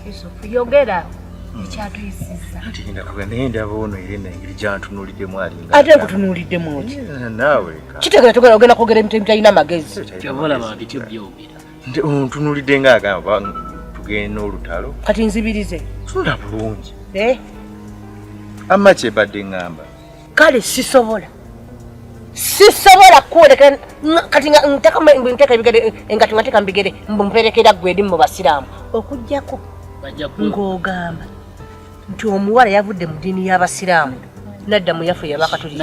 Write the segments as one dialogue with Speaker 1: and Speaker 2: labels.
Speaker 1: Yusufu yogera hmm. ekyatuyisiza
Speaker 2: naye ndaba ono era nengeri gyantunuuliddemu alinga ate nkutunuuliddemu
Speaker 3: ki naawe
Speaker 2: kitegera togera ogenda
Speaker 3: kwogera emitemu talina magezi
Speaker 4: ontunuulidde
Speaker 2: nga agamba tugende n'olutalo kati nzibirize
Speaker 3: tula bulungi
Speaker 2: eh? amma kyebadde ŋŋamba kale
Speaker 3: sisobola sisobola kukwolekera kati nga nteka nteeka ebigere engato nga nteeka mubigere mperekera gwe eri mu basiraamu okujjako ng'ogamba nti omuwala yavudde mu ddiini y'abasiraamu nadda mu yaffe yabakatuliki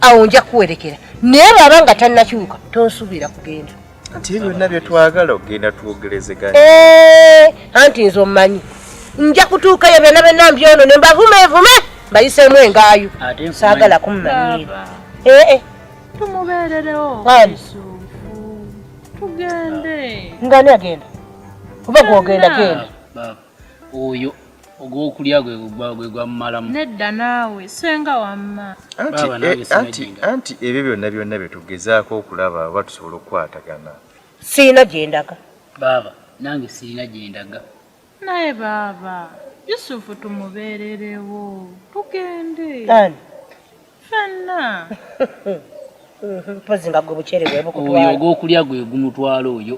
Speaker 4: awo nja kuwerekera
Speaker 3: naye bwaba nga tannakyuka tonsuubira kugenda nti byonna
Speaker 2: byetwagala okugenda twogerezeganya eh,
Speaker 3: anti nze omumanyi nja kutuukayo byonna byonna mbyono ne mbavumevume mbayiseemu engaayo saagala kumumanyira eh, eh. tumubeererewo
Speaker 1: tugende ngani agenda
Speaker 3: oba gwogenda genda oyo
Speaker 4: ogwokulya gwe gwe gwamumalamu nedda naawe
Speaker 1: senga wamma anti
Speaker 2: anti ebyo byonna byonna bye tugezaako okulaba oba tusobola okukwatagana sirina gye
Speaker 3: ndaga baaba
Speaker 4: nange sirina gye ndaga naye
Speaker 1: baaba yusufu tumubeererewo tugende ani
Speaker 3: fenna mpozi nga gwe bukyere bwebukutwala oyo ogwokulya
Speaker 4: gwe gumutwala oyo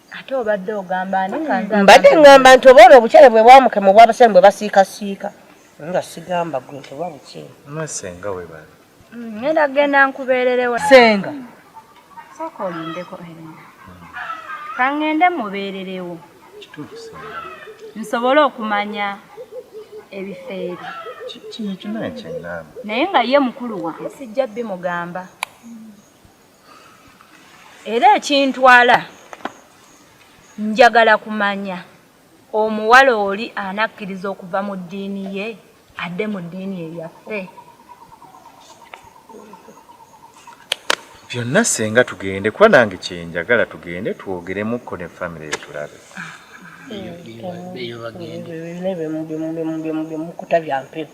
Speaker 3: ate obadde
Speaker 5: ogamba ani kanza mbadde ngamba nti oba
Speaker 3: olwo obukyere bwe bwamuke mu bwabasemi bwe basiikasiika nga sigamba gwe nti oba bukyere masenga we
Speaker 2: bali mm, ngenda kugenda
Speaker 5: nkubeererewo senga
Speaker 3: sooka
Speaker 5: olindeko erina kangende mubeererewo nsobole okumanya ebifeeri
Speaker 2: naye nga ye mukulu
Speaker 5: wange sijja bimugamba era ekintwala njagala kumanya omuwala oli anakkiriza okuva mu ddiini ye adde mu ddiini eyaffe
Speaker 2: byonna senga tugende kuba nange kyenjagala tugende twogeremukko ne famiry yetulabe
Speaker 4: byemukuta
Speaker 3: byampewo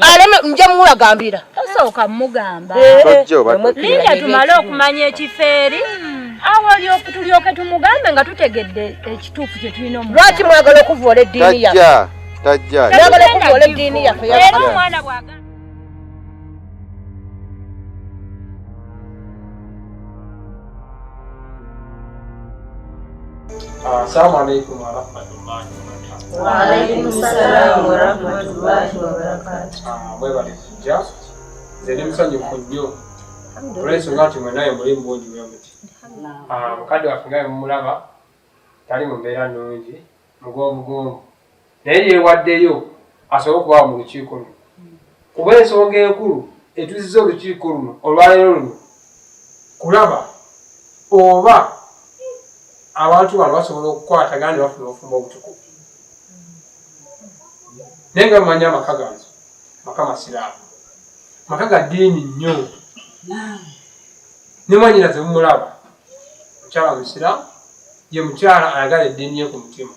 Speaker 3: aleme nja mulagambira osooka
Speaker 5: mugamba
Speaker 2: linda tumale
Speaker 5: okumanya ekifo eri awo tulyoke tumugambe nga tutegedde ekituufu kyetulina omu lwaki mwagala okuvoola
Speaker 3: eddiini yafeagala
Speaker 2: okuvoola
Speaker 3: eddiini yaffe
Speaker 6: Assalamu alaikum warahmatullahi wabarakatuh. Wa alaikum
Speaker 3: salaam warahmatullahi wabarakatuh. Ah, mwebale kujja.
Speaker 6: Nze ndi musanyufu nnyo olw'ensonga nti mwenaye muli mu bungi bwe muti. Ah, mukadde waffe nga bwe mumulaba tali mu mbeera nnungi mugonvugonvu naye yeewaddeyo asobole okubaawo mu lukiiko luno kuba ensonga enkulu etuziza olukiiko luno olwaleero luno kulaba oba abantu bano basobola okukwatagana ne bafuna obufumbo obutukuvu naye nga mumanyi amaka gange maka masiraamu maka ga ddiini nnyo ne mwanyinaze mumulaba mukyala omusiraamu ye mukyala ayagala eddiini ye ku mutima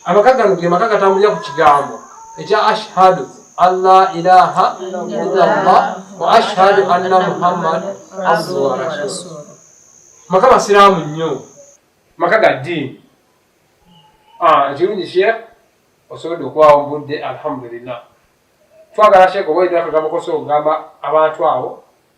Speaker 6: amaka gano ge maka gatambulira ku kigambo ekya ashhadu allah ilaha illallah wa ashhadu anna muhammad abduhu wa rasulu maka masiraamu nnyo maka ga ddiini ah, ekirungi sheekh osobodde okuwawo budde alhamdulillah twagala sheekh oba oyina akagambo kosa okugamba abantu abo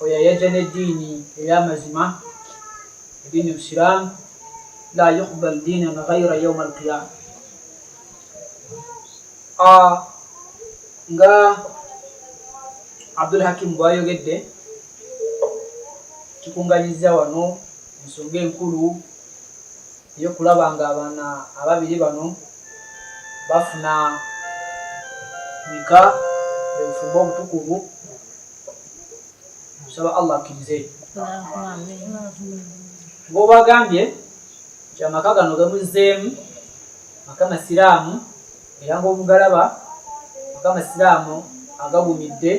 Speaker 7: oyo ayajja n'eddiini ey'amazima eddiini busiraamu la yuqbal diinan ghaira yauma alqiyama ah, nga abdul hakimu bwayogedde tukunganyiza wano ensonga enkulu eyokulaba nga abaana ababiri bano bafuna nika obufumbo obutukuvu nsaba allah akkirize ngaobagambye nti amaka gano gamuzzeemu maka masiraamu era ngaobugalaba maka masiraamu agagumidde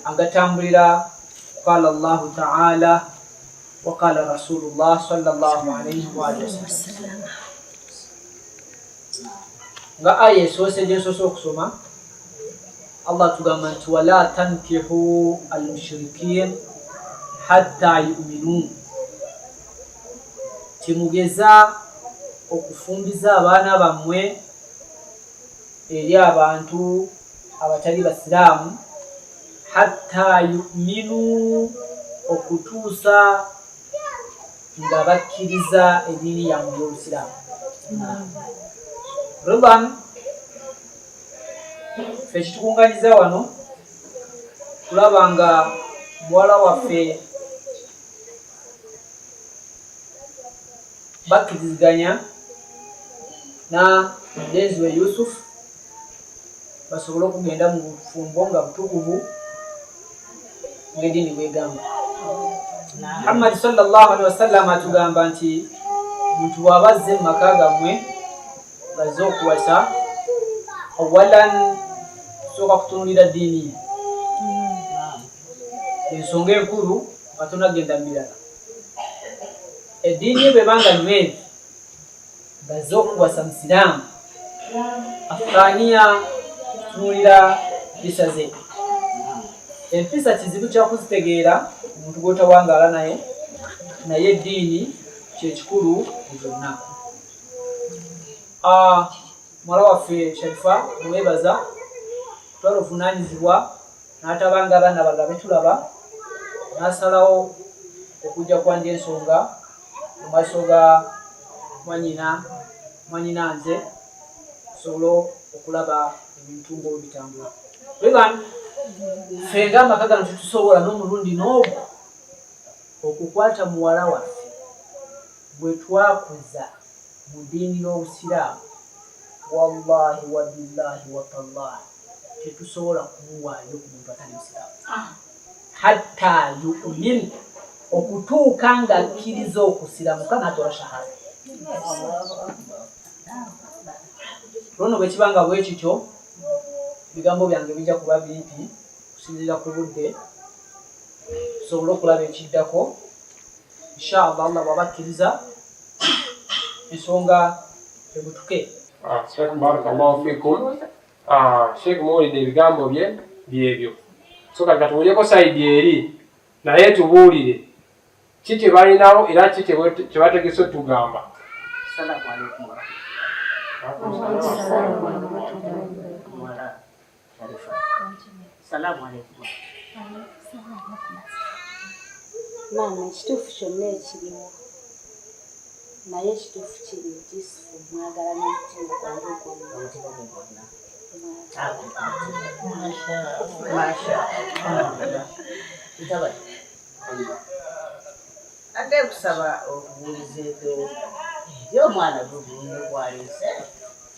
Speaker 7: agatambulira qala llahu taala waqala rasulullah salllahu alaihi waalihi wasallam nga aya esoose gyensoose okusoma Allah tugamba nti wala tankihu almushirikin hatta yuminun temugeza okufumbiza abaana bammwe eri abantu abatali basiraamu hatta yuminu okutuusa nga bakkiriza eddiini yammwe y'obusiraamu ridan ffe kitukunganyiza wano kulaba nga muwala waffe bakkiriziganya na denziwe yusufu basobole okugenda mu bufumbo nga butukuvu ngedini bwegamba muhammadi sallallahu alihi wasallama atugamba nti omuntu bwaba azze mu maka gammwe bazze okuwasa awalan sooka kutunulira ddiini ye mm-hmm. ensonga enkulu nga tonagenda mubirala eddiini ye bwebanga nyweri bazze okuwasa musiraamu afaniya kutunulira mpisa ze mm-hmm. empisa kizibu kyakuzitegeera omuntu gwotawangaala naye naye eddiini kyekikulu mu byonna ah, muwala waffe sharifa muwebaza kutwala obuvunanyizibwa natabanga abaana banga betulaba nasalawo okujja kwanja ensonga mu maaso ga mwanyina mwanyina nze sobola okulaba ebintu nga olubitambula weban fe nga amaka gano tetusobola n'omulundi n'ogu okukwata muwala waffe gwe twakuza mu diini y'obusiraamu wallahi wabillahi watallahi tetusobola kumuwaayo ku muntu atali musiraamu hatta yumin okutuuka nga akkiriza okusiramuka natola shahada luno bwekiba nga bwekityo ebigambo byange bijja kuba bimpi okusinziira ku budde tusobole okulaba ekiddako inshallah allah bwaba akkiriza ensonga ebutuke ah, sheikh
Speaker 6: barakallahu fikum ah, sheikh muwulidde ebigambo bye byebyo so kati katuwulyeko saidi eri naye tubuulire ki kyebalinawo era ki kyebategese otugamba
Speaker 3: Salamu alaikum.
Speaker 8: Maama, ekituufu kyonna ekiriwo naye ekituufu kiri nti mwagala n'omutima gwange gwonna. Ate
Speaker 3: kusaba obubuulizeeko y'omwana gwe gwalese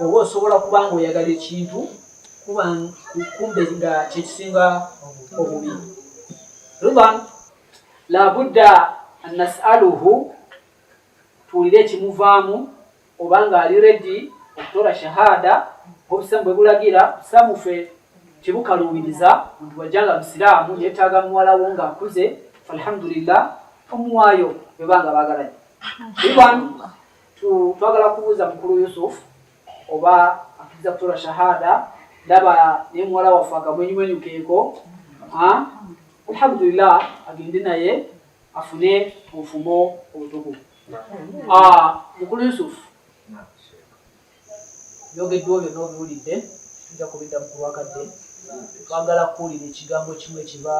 Speaker 7: oba osobola kuba nga oyagala ekintu kuba kumbe nga kyekisinga obubi ridan labudda nasaluhu tuwulire ekimuvaamu oba nga ali redi okutola shahada obusamu bwe bulagira busamufe tebukaluubiriza muntu wajja nga musiraamu yetaaga muwalawo nga akuze falhamdulillah omuwaayo bwebanga bagalanye ridan twagala kubuuza mukulu Yusuf oba akiriza kutola shahada ndaba naye muwala waffe akamwenyumwenyu keeko alhamdulillah agende naye afune obufumo obutukuvu mukulu Yusuf Ebyogeddwa byonna obiwulidde, tujja kubiddamu ku lwakadde. Twagala kuwulira ekigambo kimu ekiva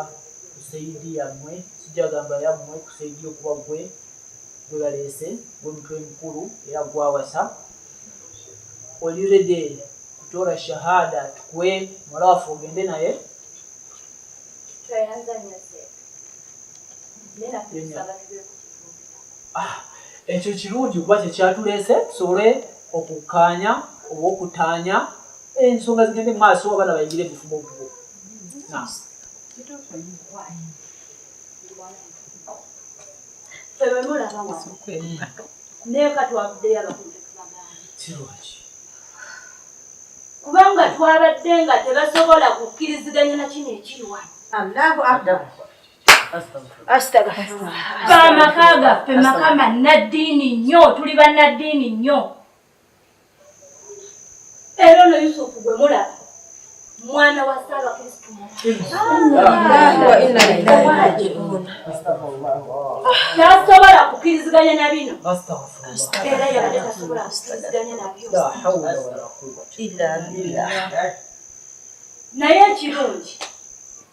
Speaker 7: ku seyidi yammwe, sijagamba yammwe, ku seyidi okuba gwe gwe baleese, gwe mutwe mukulu era gwawasa. Oli rede kutoora shahada tukwe muwala waffe ogende naye? Tweyanzanya se. Nena kusaba Ah, ekyo kirungi kuba kye kyatuleese tusobole okukkaanya oba okutaanya ensonga zigende mu maaso abaana bayingire ebifuba obugo
Speaker 5: kirungi kubanga twabadde nga tebasobola kukkiriziganya na kino ekiri wano allahu akbar amaka gaffe maka mannaddiini nnyo tuli bannaddiini nnyo era ono yusufu gwe mulaba mwana wa saba kristu tasobola kukiriziganya na bino era yabadde tasobola kukiriziganya nabyo naye ekirungi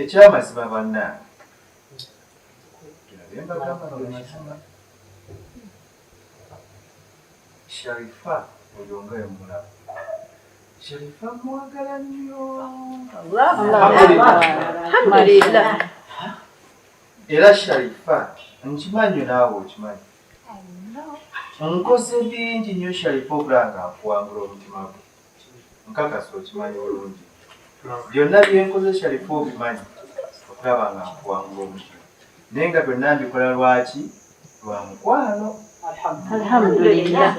Speaker 2: ekyamazima bannange sharifa oyo nga yomulamu sharifa
Speaker 3: mwagala nnyo
Speaker 2: era sharifa nkimanyo naawe okimanyi nkoze bingi nnyo sharifa okulanga nkuwangula omutima gwe nkakasa okimanyi bulungi byonna byenkozesa bifo obimanyi okulaba nga nkuwanga omuti naye nga byonna mbikola lwaki lwa mukwano alhamdulillah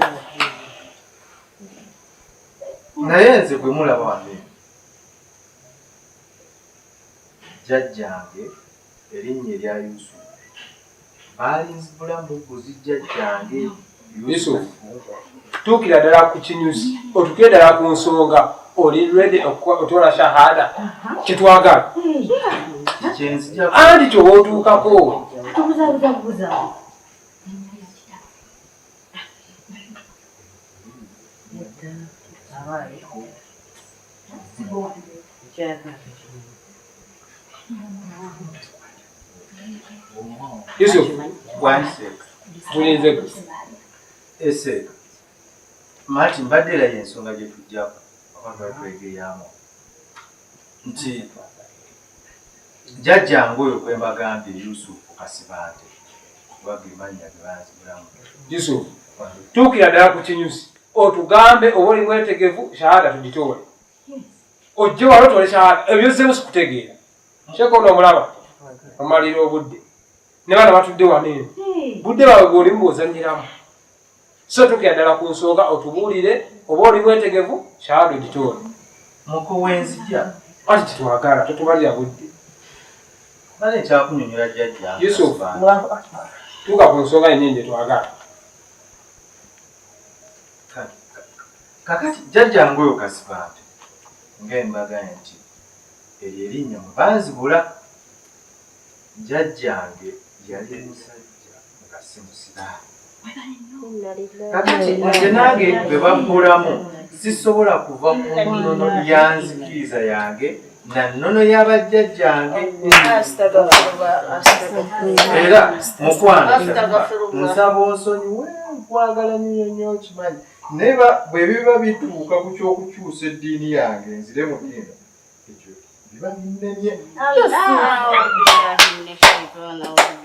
Speaker 2: naye nze gwe mulaba wange jjajjange Erinnya erya Yusufu baalinzibula mu mbuzi jjajjange
Speaker 6: Yusufu. Tuukira ddala ku kinyusi, otukire ddala ku nsonga. Oli ready okutwala shahada? Kyetwagala andi kyoba otuukako. All right. Yusuf, tulinze ese
Speaker 2: mati mbadde era yensonga gye tujjako abatwegeyaamu nti jajjange oyo gwe mbagambye yusufu kasibante oba ge mannya ge banzibulamu yusufu
Speaker 6: tuukira ddala ku kinyusi otugambe oba oli mwetegevu shahada tugitoole ojje wala otole shahada ebyozzemu sikutegeera sheeka ono omulaba omalira obudde ne bana batudde wano eno budde bawe gwolimu bwozanyiramu so tukira ddala ku nsonga otubuulire oba oli mwetegevu shahada ogitoole
Speaker 2: mukowenzija kati kitwagala
Speaker 6: totubalira budde
Speaker 2: bale kyakunyonyola jjajja yusuf
Speaker 6: tuka ku nsonga yennyini gyetwagala
Speaker 2: kakati jjajja ngoyo kasibante ngaembaga nti eryo erinnya mwe banzibula jjajjange yali musajja nga si musiraamu kakati nze nange bwe babbulamu sisobola kuva ku nnono ya nzikiriza yange na nnono ya bajjajjange era mukwano nsaba onsonyiwe nkwagala nyo nyo okimanyi naye bwe biba bituuka ku ky'okukyusa eddiini yange nzire mu diina ekyo biba binnemye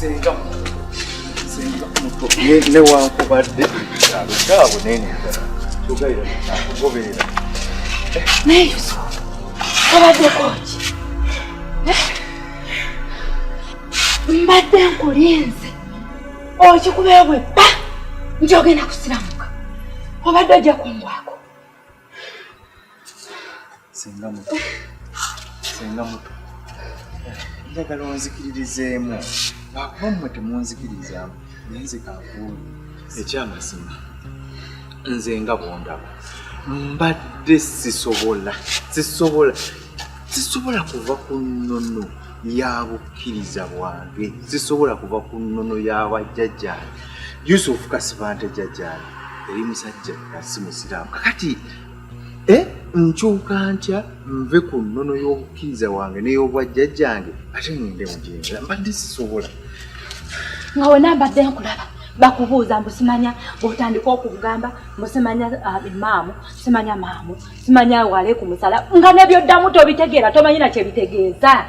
Speaker 2: senga senga muto newankubadde kyalo kyabo nenenjala kyogaira kugobeera
Speaker 8: naye obaddekoki mbadde nkulinze okikubeewe bba nti ogenda kusiramuka obadde ojja kungwako
Speaker 2: singa muto singa muto njagala onzikiririzeemu lwakuba mmwe temunzikirizaamu naye nze kankuuli ekyamazima nze nga bondaba mbadde sisobola sisobola sisobola kuva ku nnono ya bukkiriza bwange sisobola kuva ku nnono ya bajjajjange yusufu kasibante jjajjange eri musajja asi musiraamu kakati e eh, nkyuka ntya nve ku nnono y'obukkiriza wange n'ey'obwajjajjange ate
Speaker 8: ngende
Speaker 2: mujinza mbadde sisobola nga wena
Speaker 8: mbadde
Speaker 2: nkulaba
Speaker 5: bakubuuza mbusimanya bwotandika okugamba mbusimanya ah, imaamu simanya maamu simanya wale ku musala nga nebyoddamu tobitegeera tomanyi nakye bitegeeza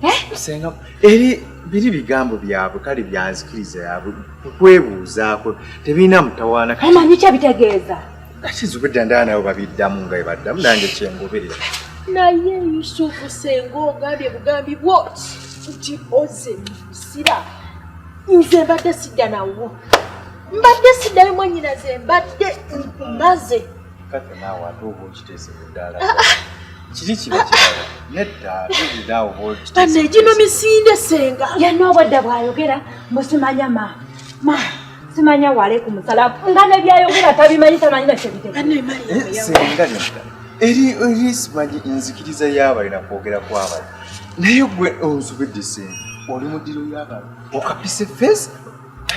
Speaker 5: eh? senga
Speaker 2: eri biri bigambo byabwe kale byanzikiriza yabwe kukwebuuzaako tebirina mutawaana omanyi kye bitegeeza
Speaker 5: akizubidda
Speaker 2: ndaa nabo babiddamu nga ebaddamu nange kyengoberera naye
Speaker 8: yusufu senga ogambye bugambi bwot nti oze musira nze mbadde sidda nawo mbadde siddayo mwanyinaze mbadde nkumaze Kati naawe
Speaker 2: ate oba okiteese ku ddaala ah, ah. kiri kiba kirala nedda tuliraa oba okiteese egino misinde
Speaker 8: senga yanna obwadda
Speaker 5: bwayogera mbusimanya ma ma simanya waleku musala nga nebyayogera tabimanyi tamanyi nakyebiteksenga eh, nedda
Speaker 2: eri eri simanyi enzikiriza y'abalina kwogera kw'abali naye gwe onzubidde senga oli mu ddiro y'abantu okapise feesi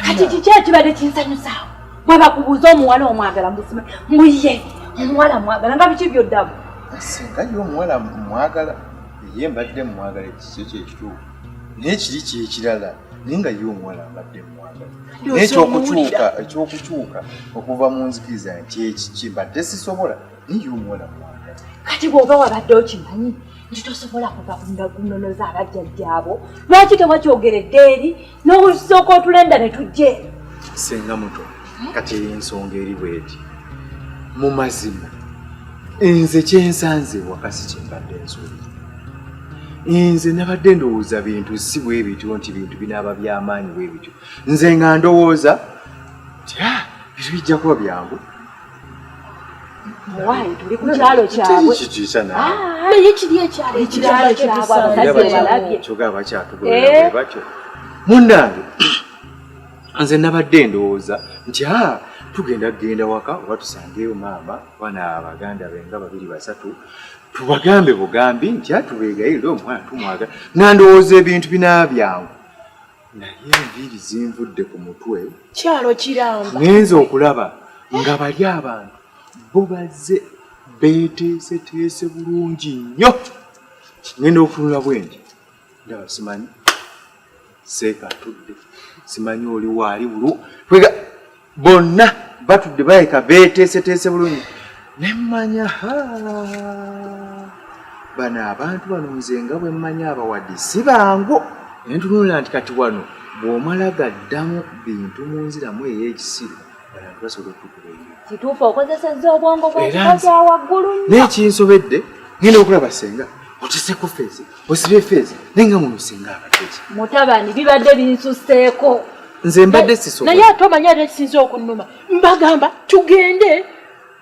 Speaker 2: kati kiki
Speaker 5: ekibadde kinsanyusaawo bwebakubuuza omuwala omwagala mubusima mbu ye omuwala mwagala nga biki byoddamu singa ye
Speaker 2: omuwala mwagala ye mbadde mwagala ekikyo kyekituufu naye kiri kyekirala naye nga ye omuwala mbadde mwagala naye ekyokukyuka ekyokukyuka okuva mu nzikiriza nti ekiki mbadde sisobola naye ye omuwala mwagala kati bwoba
Speaker 5: wabadde okimanyi nti tosobola kuva kunonoza abajjajjaabo lwaki tewakyogeredde eri n'olusooka otulenda ne tujja eno senga muto
Speaker 2: kati eyo ensonga eri bweti mu mazima nze kyensanze wakasi kyembadde nsuubi nze nabadde ndowooza bintu si bwe bityo nti bintu binaaba byamaanyi bwe bityo nze nga ndowooza nti ah, bintu bijja kuba byangu
Speaker 5: muwaayi tuli ku kyalo kyabwe naye
Speaker 2: kiri
Speaker 8: ekyalo ekyalo kyabwe abazadde
Speaker 5: balabye kyoga bakyatugulira
Speaker 2: batyo munnange nze nabadde ndowooza nti a ah, tugenda kugenda waka oba tusangeeyo maama bana baganda be nga babiri basatu tubagambe bugambi nti atubeegayirire ah, omwana tumwaga nandowooza ebintu binaabyangu naye enviiri zinvudde ku mutwe kyalo kiramba
Speaker 8: ngenze okulaba
Speaker 2: nga bali abantu bo bazze beeteeseteese bulungi nnyo ngenda okutunula bwendi ndaba simanyi seeka atudde simanyi oli waali bulu bonna batudde baleka beeteeseteese bulungi ne mmanya ha bano abantu bano nze nga bwe mmanya abawadi si bangu ne ntunulira nti kati wano bw'omala gaddamu bintu mu nziramu ey'ekisiru abantu basobola okutukuba enyo kituufu okozesezza
Speaker 5: obwongo bwekika kya waggulu nnyo n'ekinsobedde
Speaker 2: ngenda okulaba senga oteseko feesi osibye feeza naye nga muno singa abateki mutabani bibadde
Speaker 5: binsuseeko nze mbadde
Speaker 2: siso naye ate omanyi ate kisinza
Speaker 8: okunnuma mbagamba tugende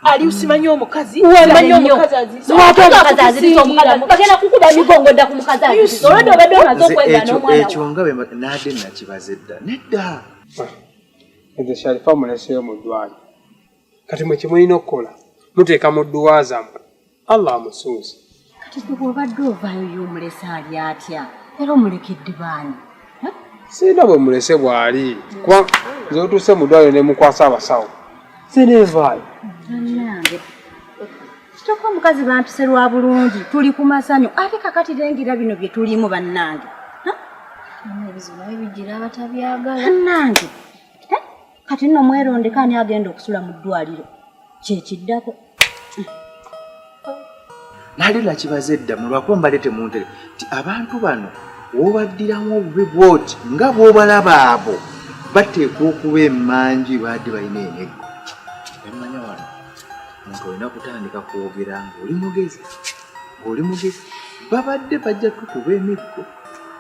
Speaker 8: ali usimanyi omukazi umanyi omukazi azizo
Speaker 5: watu omukazi azizo omukazi azizo bagenda kukuba migongo dda ku mukazi azizo olwedde obadde omaze okwenda n'omwana ekyo nga bwe naadde
Speaker 2: nakibaze dda nedda
Speaker 6: nze sharifa muleseyo mu ddwaliro kati mwe kye mulina okukola muteeka mu dduwa zammwe allah amusuuze kati gwe bwobadde
Speaker 3: ovaayo yomulese ali atya era omulekedde baani sirina
Speaker 6: bwe mulese bwali kuba nze otuuse mu ddwaliro ne mukwasa abasawo sineevaayo
Speaker 3: kyokka omukazi bantuse lwa bulungi tuli ku masanyu ate kakati lengera bino bye tulimu bannange
Speaker 8: ebizibu naye bijira abatabyagala bannange
Speaker 3: kati nno mwerondeko ani agenda okusula mu ddwaliro kyekiddako
Speaker 2: nali lakibaza edda mulwako mbale temuntere ti abantu bano wobaddiramu obubi bwoti nga bwobalaba abo bateekwa okuba emanji baadi balina eneggo emanya wano muntu olina kutandika kwogera ngaoli mugezi ngaoli mugezi babadde bajja tukuba emiggo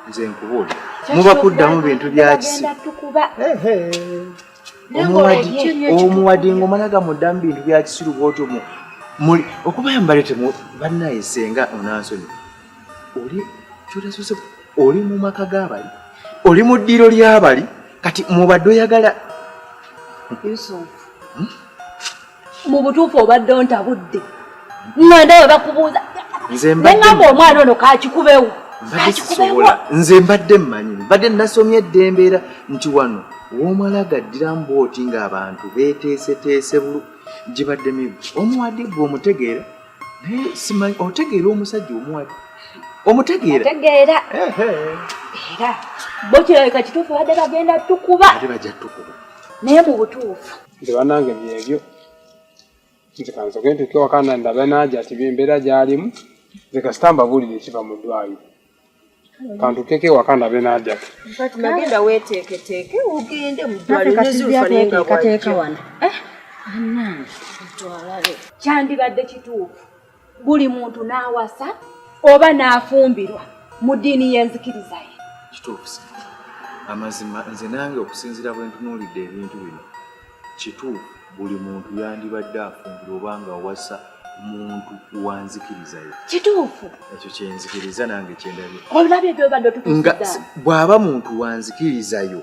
Speaker 2: nze nkubuulira muba kuddamu bintu byakisiru omuwadi ngaomala gamuddamu bintu byakisiru bwotyo muli okubayo mbalete bannaye senga onansonyi oli kyotasose oli mu maka g'abali oli mu ddiiro ly'abali kati mubadde oyagala
Speaker 5: hmm? mu butuufu obadde ontabudde nga ndawe bakubuuza nengamba omwana ono kakikubewo
Speaker 2: nze mbadde mmanyi mbadde nasomye edda embeera nti wano womala gaddira mbooti ng'abantu beeteeseteese bulu gibadde mibu omuwadi gwe omutegeera naye simanyi otegeera omusajja omuwadi omutegeera era
Speaker 5: bo kirabika kituufu
Speaker 2: badde
Speaker 5: bagenda tukuba naye mu butuufu nze banange byebyo
Speaker 6: nze kansoke ntuke wakana ndabe naja ati byembeera gyalimu nze kasita mbabuulire ekiva mu ddwayo kantukeko ewaka ndabe naja nagenda
Speaker 3: weteeketeeke ogende mu ddwaliro nezulufa naye nga wajja
Speaker 5: kyandibadde kituufu buli muntu n'awasa oba n'afumbirwa mu ddiini y'enzikiriza ye kituufu
Speaker 2: amazima nze nange okusinziira bwe ntunuulidde ebintu bino kituufu buli muntu yandibadde afumbirwa oba nga awasa muntu wanzikiriza ye kituufu ekyo
Speaker 5: kyenzikiriza
Speaker 2: nange kyendabye olabye gyobadde
Speaker 5: otutusiza bw'aba muntu
Speaker 2: wanzikiriza yo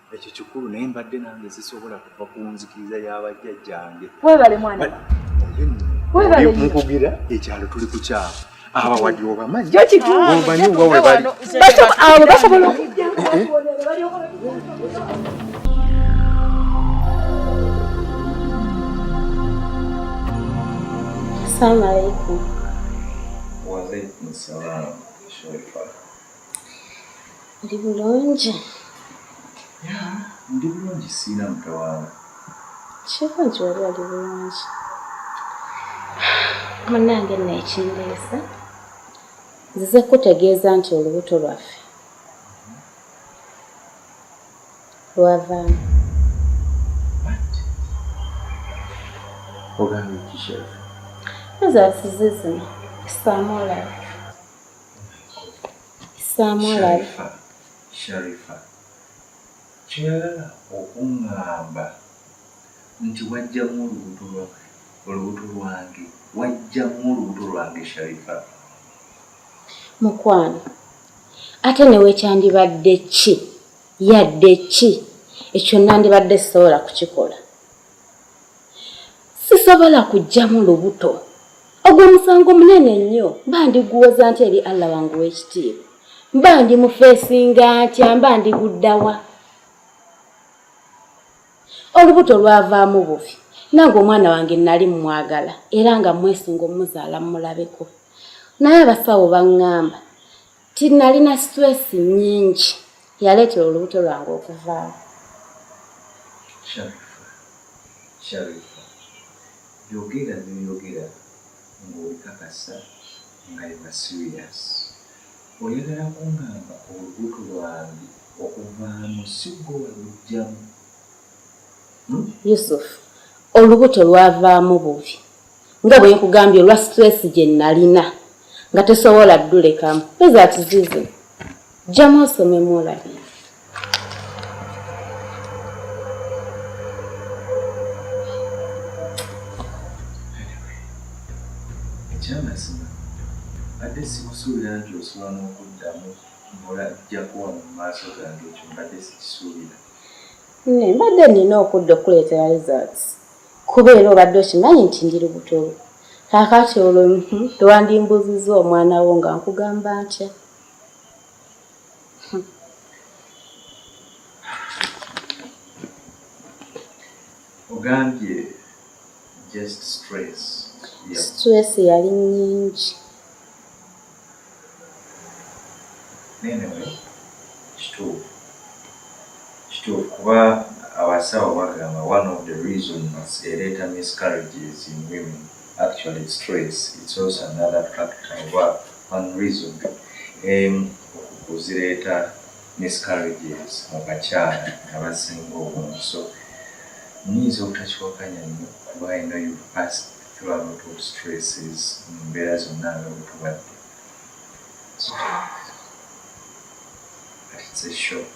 Speaker 2: ekyo kikulu naye mbadde nange sisobola kuva ku nzikiriza y'abajjajjange webale
Speaker 5: mwana mukugira
Speaker 2: ekyalo tuli ku kyalo aba wadi obamanyi obanyi oba
Speaker 5: webali
Speaker 2: abo basobola okujja Assalamu
Speaker 5: alaikum. Wa
Speaker 8: alaikum
Speaker 2: salam. Sharifa.
Speaker 8: Ndi bulungi. Ya,
Speaker 2: ndi bulungi siina mutawaana. Kiko
Speaker 8: nti wali ali bulungi. Munange nno ekindeesa nzize kukutegeeza nti olubuto lwaffe lwavaamu.
Speaker 2: Ogambye ki Sheriff? Ezo asize
Speaker 8: zino, kisaamu olaba. Sharifa, Sharifa
Speaker 2: kyoyagala okungamba nti wajjamu olubuto lwa olubuto lwange wajjamu olubuto lwange Sharifa mukwano
Speaker 8: ate newekyandibadde ki yadde ki ekyo nandibadde sisobola kukikola sisobola kujjamu lubuto ogwo musango munene nnyo mba ndiguwoza nti eri allah wange w'ekitiibwa mba ndi mufeesinga ntya mba ndiguddawa olubuto lwavaamu bubi nange omwana wange nali mumwagala era nga mwesunga omuzaala mumulabeko naye abasawo baŋŋamba ti nalina stress nyingi yaleetera olubuto lwange okuvaawo
Speaker 2: yogera byoyogera ng'obikakasa nga yeba serious oyagala kungamba olubuto lwange okuvaamu sigwe walujjamu hmm?
Speaker 8: yusuf olubuto lwavaamu bubi nga bwe nkugambye olwa stress gye nalina nga tesobola ddulekamu eza kizizi jjamu osomemu olabi ekyamazima
Speaker 2: badde sikusuubira nti osobola n'okuddamu mbola jjakuwa mu maaso gange ekyo mbadde sikisuubira
Speaker 8: mbadde nina okudda okukuleetera results kuba era obadde okimanyi nti ndi lubuto lwo kakati olwo hmm, tewandimbuuzizza omwana wo nga nkugamba ntya
Speaker 2: ogambye just stress stress
Speaker 8: yali nyingi
Speaker 2: nenewe kituufu kituufu kuba abasawo bagamba one of the reasons ereeta miscarriages in women actually stress it's also another factor oba one reason em okuzireeta miscarriages mu bakyala abasinga obungi so nyinza obutakiwakanya nyo kuba i know you've passed Tuba butu stresses mu mbeera zonna nga bwetubadde but it's a shock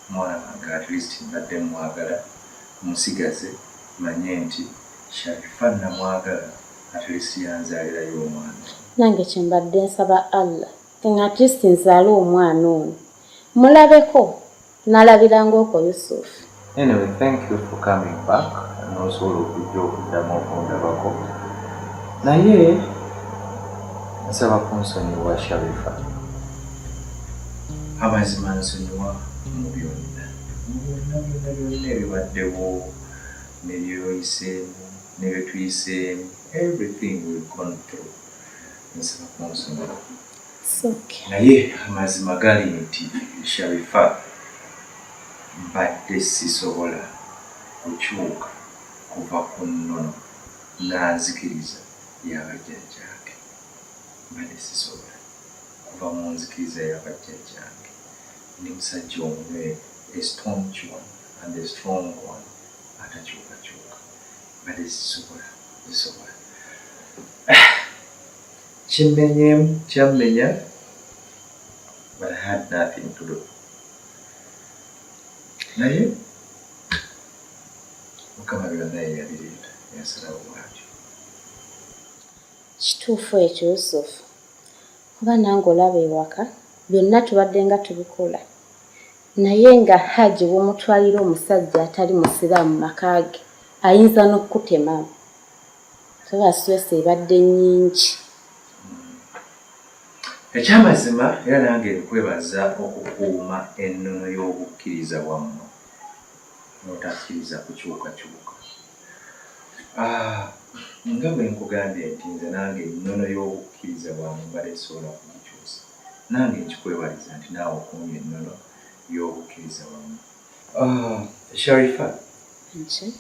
Speaker 2: mwana wange at least mbadde mwagala musigaze manye nti Sharifah namwagala at least yanzalirayo omwana. Nange kyembadde
Speaker 8: nsaba Allah nga at least nzaale omwana ono mulabeko Nalabiranga okwo Yusuf. Anyway, thank
Speaker 2: you for coming back nosobola okujja okuddamu okundabako naye nsaba kunsonyiwa sharifa amazima nsonyiwa mu byonna byonna byonna byonna ebibaddewo nebyoyiseemu nebyetuyiseemu everything will gone through nsaba kunsonyiwa Naye amazima gali nti Sharifah mbadde sisobola kukyuka kuva ku nnono nanzikiriza ya bajjajjange. Mbadde sisobola kuva mu nzikiriza ya bajjajjange. Ndi musajja omunywevu, a staunch one and a strong one atakyukakyuka. Mbadde sisobola, sisobola. Kimmenyeemu kyammenya but I had nothing to do naye mukama byonna yeyabireeta yasalawo bwatyo
Speaker 8: kituufu ekyo yusufu kuba nange olaba ewaka byonna tubadde nga tubikola naye nga hajji womutwalira omusajja atali musiraamu makaage ayinza n'okukutemamu Kuba stress ebadde nyingi.
Speaker 2: Ekyamazima era nange nkwebaza okukuuma ennono y'obukkiriza bwammwe n'otakkiriza kukyukakyuka. Ah, nga bwe nkugambye nti nze nange ennono y'obukkiriza bwange mbadde sisobola kugikyusa, nange nkikwebaliza nti naawe okuumye ennono y'obukkiriza bwammwe. Ah, Sharifa. Nchi.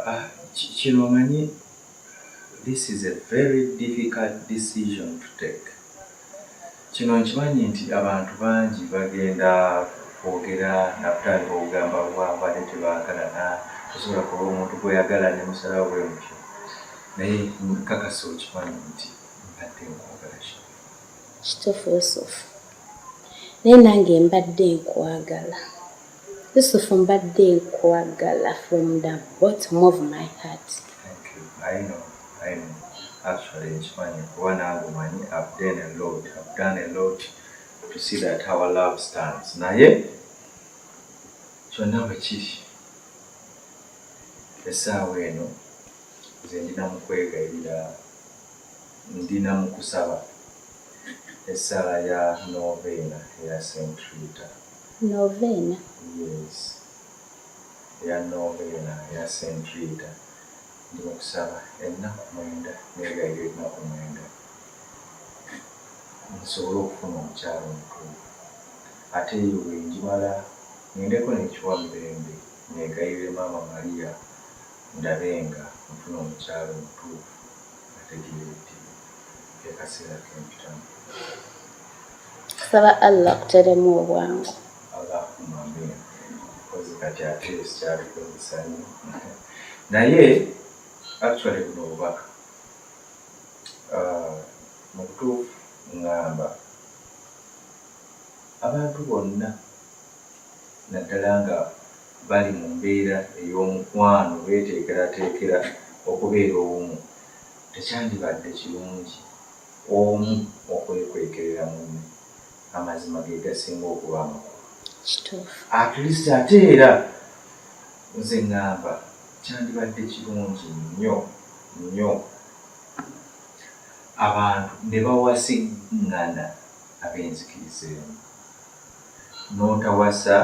Speaker 2: Ah, kino omanyi this is a very difficult decision to take. Kino nkimanyi nti abantu bangi bagenda kwogera nakutandika okugamba bwabadde tebaagalana tosobola kuba omuntu gweyagala ne musalawo bwe mutyo naye nkakasa okimanyi nti mbadde nkwagala kituufu
Speaker 8: yusufu Naye nange mbadde nkwagala Yusufu mbadde nkwagala from the bottom of my heart. Okay,
Speaker 2: I know, I know. Actually nkimanyi kuba nange omanyi I've done a lot, I've done a lot to see that our love stands. Naye kyonna bwe kiri essaawa eno nze ndina mu kwegayirira Ndi na mu kusaba essala ya Noveena eya Saint Rita. Noveena?
Speaker 8: Yes.
Speaker 2: Eya Noveena eya Saint Rita. Ndi mu kusaba ennaku mwenda, neegayirira ennaku mwenda, nsobole okufuna omukyala omutuufu. Ate eyo bwe ngimala, ŋŋendeko n'ekiwa Mirembe, neegayirire Maama Maria. ndabe nga nfuna omukyala omutuufu ategeeredde ekaseera kempitamu. Nsaba
Speaker 8: Allah akuteremu obwangu. Allahumma
Speaker 2: amiina. Kozi kati ate sikyabikozesa nnyo naye actually buno obubaka ah, mu butuufu ngamba abantu bonna naddala nga bali mu mbeera ey'omukwano beeteekerateekera okubeera obumu, tekyandibadde kirungi omu okwekwekerera munne? Amazima ge gasinga okuba amakulu. Kituufu. At least ate era nze ŋŋamba kyandibadde kirungi nnyo nnyo abantu ne bawasiŋŋana ab'enzikiriza emu. n'otawasa,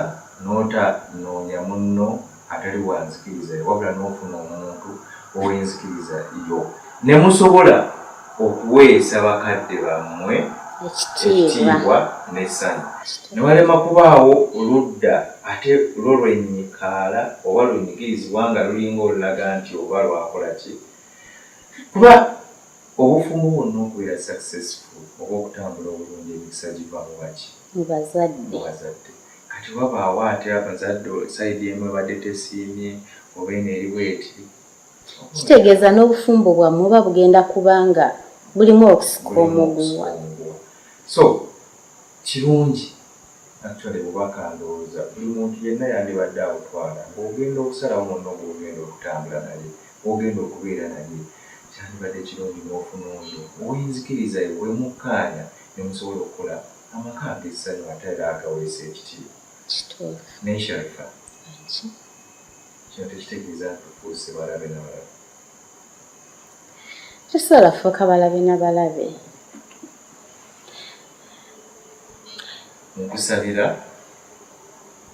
Speaker 2: n'ota noonya munno atali wa nzikiriza yo, wabula n'ofuna omuntu ow'enzikiriza yo, ne musobola okuweesa bakadde bammwe ekitiibwa n'essanyu, ne walema kubaawo ludda ate lwo lwennyikaala oba lwenyigirizibwa nga lulinga olulaga nti oba lwakola ki, kuba obufumbo bwonna okubeera successful oba okutambula obulungi emikisa giva mu baki? mu bazadde.
Speaker 8: Kati
Speaker 2: wabaawo ate abazadde side emu ebadde tesiimye oba eno eri bweti. Kitegeeza
Speaker 8: n'obufumbo bwammwe buba bugenda kuba nga bulimu okusika omuguwa. So
Speaker 2: kirungi actually bubaka ndowooza buli muntu yenna yandibadde abutwala ng'ogenda okusalawo munno gw'ogenda okutambula naye, gw'ogenda okubeera naye kyandibadde kirungi n'ofuna oyo ow'enzikiriza yo bwe mukkaanya ne musobola okukola amaka ag'essanyu ate era agaweesa ekitiibwa. Kituufu. Naye Sharifah, Enki? kino tekitegeeza nti tufuuse balabe na balabe.
Speaker 8: Tusobola kufuuka balabe na balabe.
Speaker 2: Nkusabira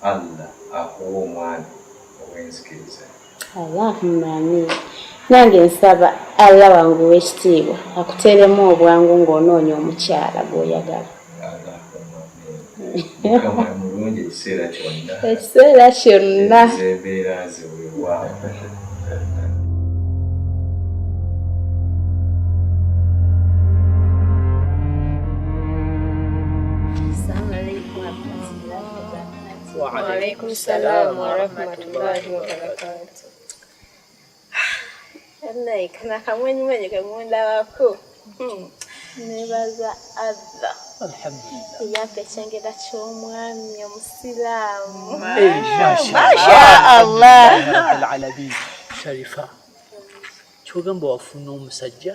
Speaker 2: Allah akuwe omwana ow'enzikiriza. Allahumma
Speaker 8: amiin. Nange nsaba Allah wange ow'ekitiibwa akuteeremu obwangu ng'onoonya omukyala gw'oyagala.
Speaker 2: Ekiseera
Speaker 8: kyonna.
Speaker 2: Waalaikum
Speaker 9: salaam warahmatullahi wabarakatuh. Naye kana kamwenyumwenyu ke mundabako hmm. nebaza Allah
Speaker 4: eyampa ekyengera
Speaker 9: ky'omwami omusiraamu
Speaker 4: mashaallahalabi sharifa kyogamba wafuna omusajja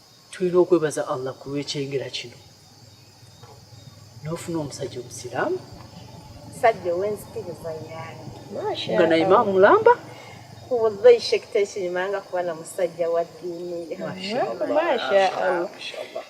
Speaker 4: tulina okwebaza allah ku lw'ekyengera kino n'ofuna omusajja omusiraamu sajja
Speaker 9: ow'enzikiriza yaani nga naye maa mulamba
Speaker 4: wallahi
Speaker 9: sheikh tekirimanga kuba na musajja wa ddiini
Speaker 4: masha allah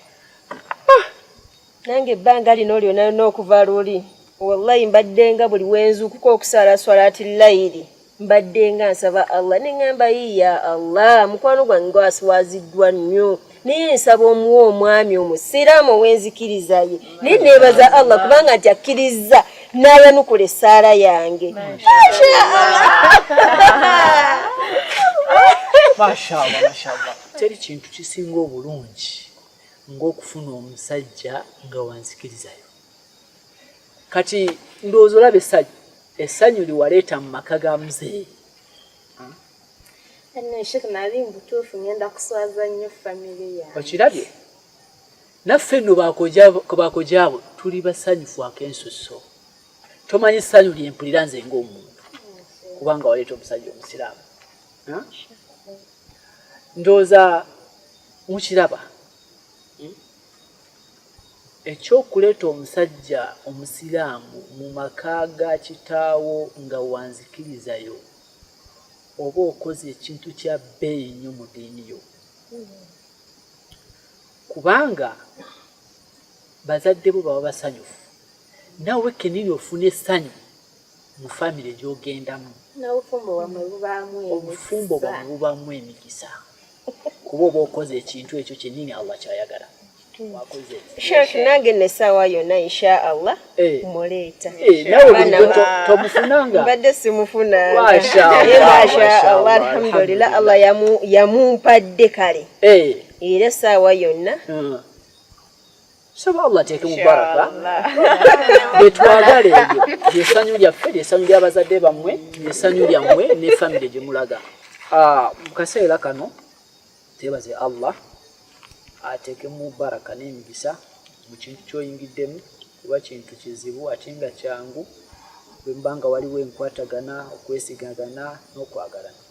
Speaker 3: nange ebbanga lino lyona yona okuva luli wallahi mbaddenga buli wenzuukuka okusaala swalaati layiri mbaddenga nsaba allah neŋŋamba yi ya allah mukwano gwange gwasiwaziddwa nnyo naye nsaba omuwa omwami omusiraamu ow'enzikiriza ye naye neebaza allah kubanga nti akkirizza n'ayanukula essaala yange
Speaker 4: teri kintu kisinga obulungi ng'okufuna omusajja nga wanzikirizayo kati ndowooza olaba essanyu essanyu liwaleeta mu maka ga
Speaker 9: muzeeyi okirabye
Speaker 4: naffe nno bakojaabo tuli basanyufu ak'ensusso tomanyi ssanyu lyempulira nze ng'omuntu kubanga waleeta omusajja omusiraamu ndowooza mukiraba hmm? ekyokuleeta omusajja omusiraamu mu maka ga kitaawo nga wanzikirizayo oba okoze ekintu kya bbeeyi nnyo mu diini yo kubanga bazadde bo baba basanyufu nawe kenini ofuna essanyu mu famire gyogendamu obufumbo bwamwe bubaamu emikisa kuba oba okoze ekintu ekyo kyennyini allah kyayagala
Speaker 3: Sheikh nange nesawa yona insha Allah eh. muleeta eh,
Speaker 4: tomufunanga mbadde
Speaker 3: simufunanga
Speaker 4: masha Allah
Speaker 3: alhamdulillah Allah yamumpadde kale eh. era saawa yonna hmm.
Speaker 4: saba allah ateeke mu baraka betwagala ebyo lyesanyu lyaffe lyesanyu lyabazadde bammwe lyesanyu lyammwe ne famire gye mulaga ah, mu kaseera kano tebaze allah ateeke mu baraka n'emigisa mu kintu kyoyingiddemu kuba kintu kizibu ate nga kyangu bwemba nga waliwo enkwatagana okwesigagana n'okwagalana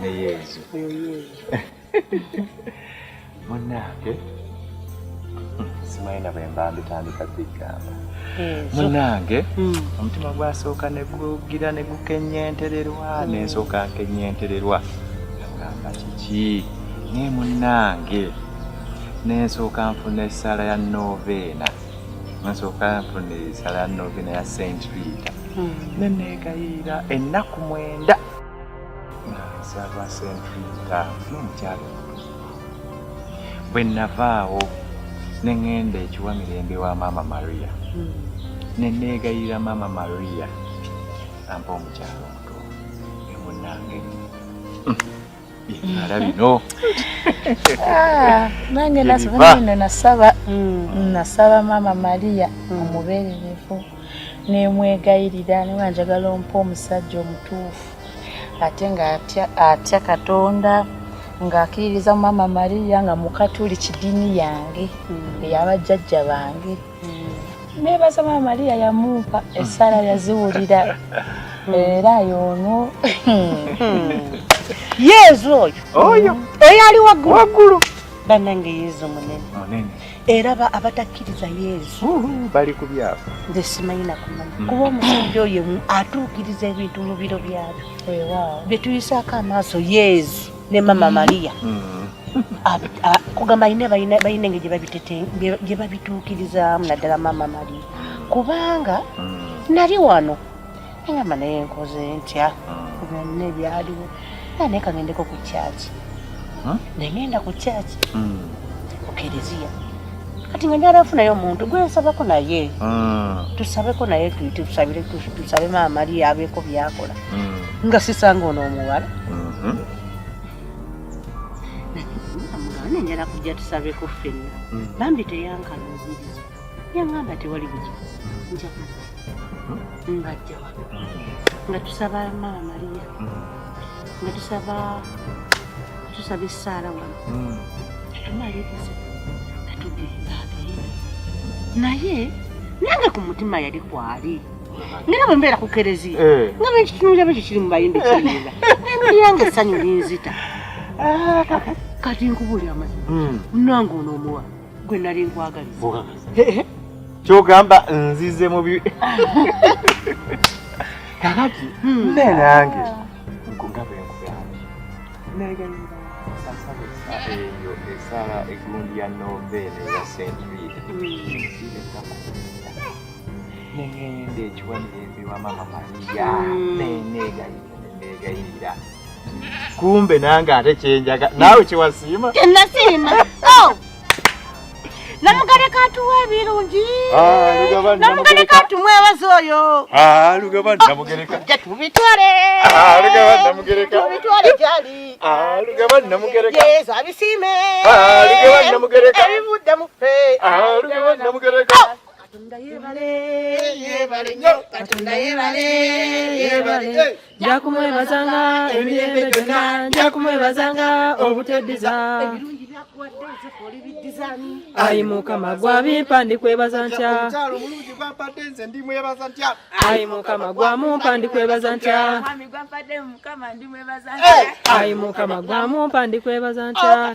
Speaker 2: ne yezu munange simayina bwemba mbitandika bigamba munange hmm. omutima gwasooka negugira negukenyentererwa nensooka nkenyentererwa agamba kiki naye munange nensooka nfuna esaala ya noveena nsooka nfuna esaala ya noveena ya saint rita hmm. neneegayirira ennaku mwenda nsaba sente ttaano n'omukyalo bwe navaawo ne ŋŋenda ekiwa mirembe wa maama maria hmm. ne neegayirira maama maria ampa omukyalo omuto emunange byenala hmm. bino
Speaker 10: ah, nange nasaba hmm. nasaba maama maria omubeererevu nemwegayirira nga njagala ompa omusajja omutuufu ate nga atya katonda ng'akiririza mu maama mariya nga mukatuli kidiini yange hmm. eyabajjajja bange hmm. nebaza maama mariya yamumpa esaala yaziwulira era yoono hmm.
Speaker 3: yezu oyo oyo eyali waggulu waggulu banange
Speaker 2: yezu munene era ba
Speaker 3: abatakkiriza yesu bali ku byabo
Speaker 2: nze simanyi nakumanya
Speaker 3: mm. kuba omusajja oyo atuukiriza ebintu mu biro byabyo bye tuyisaako amaaso yesu ne mama mm. maria mm. kugamba balina engeri gye babituukirizaamu naddala mama maria kubanga nali wano engamba naye nkoze ntya hmm. byonna ebyaliwo era naye kagendeko ku kyaki hmm? nengenda ku kyaki hmm. ku kereziya kati nga njala nfunayo omuntu gwe nsabako naye tusabeko naye tusabire tusabe maama ali abeeko byakola nga sisanga ono omuwala amugane njala kujja tusabeko ffenna bambi teyankalubiriza yaŋŋamba tewali bugi nja ngajja wano nga tusaba maama mariya nga tusaba tusaba essaala wano tumaliriza katugenda agenda naye nange ku mutima yali kwali ngera bwe mbeera ku kereziya eh. nga bwekitunulira bwekyo kiri mu bayimbi kiinga nolyange essanyu linzita ah, kati nkubuli amazima hmm. nange onoomuwa gwe nali nkwagaliza
Speaker 2: kyogamba nzize mu bi kakati hmm. ne nange nkunga bwe nkugambye eyo esala egundi ya noveene ya st reed nengenda ekiwanira embi wa mama mariya hmm. nenegayirira kumbe nange ate kyenjaga naawe kyewasiima nasiima
Speaker 3: oh! namugaleka atuwa ebirungi ah, namugaleka atumwebaza oyo ah, lugabanitwale
Speaker 2: abisiime ebivudde mufe
Speaker 3: katonda yebale yebale
Speaker 2: nyo katonda
Speaker 3: yebale yebale njakumwebazanga emirembe gyonna njakumwebazanga obuteddiza ayi mukama gwabimpa ndikwebaza ntya
Speaker 2: ayi mukama
Speaker 3: gwamumpa ndikwebaza ntya
Speaker 5: ayi mukama
Speaker 3: gwamumpa ndikwebaza ntya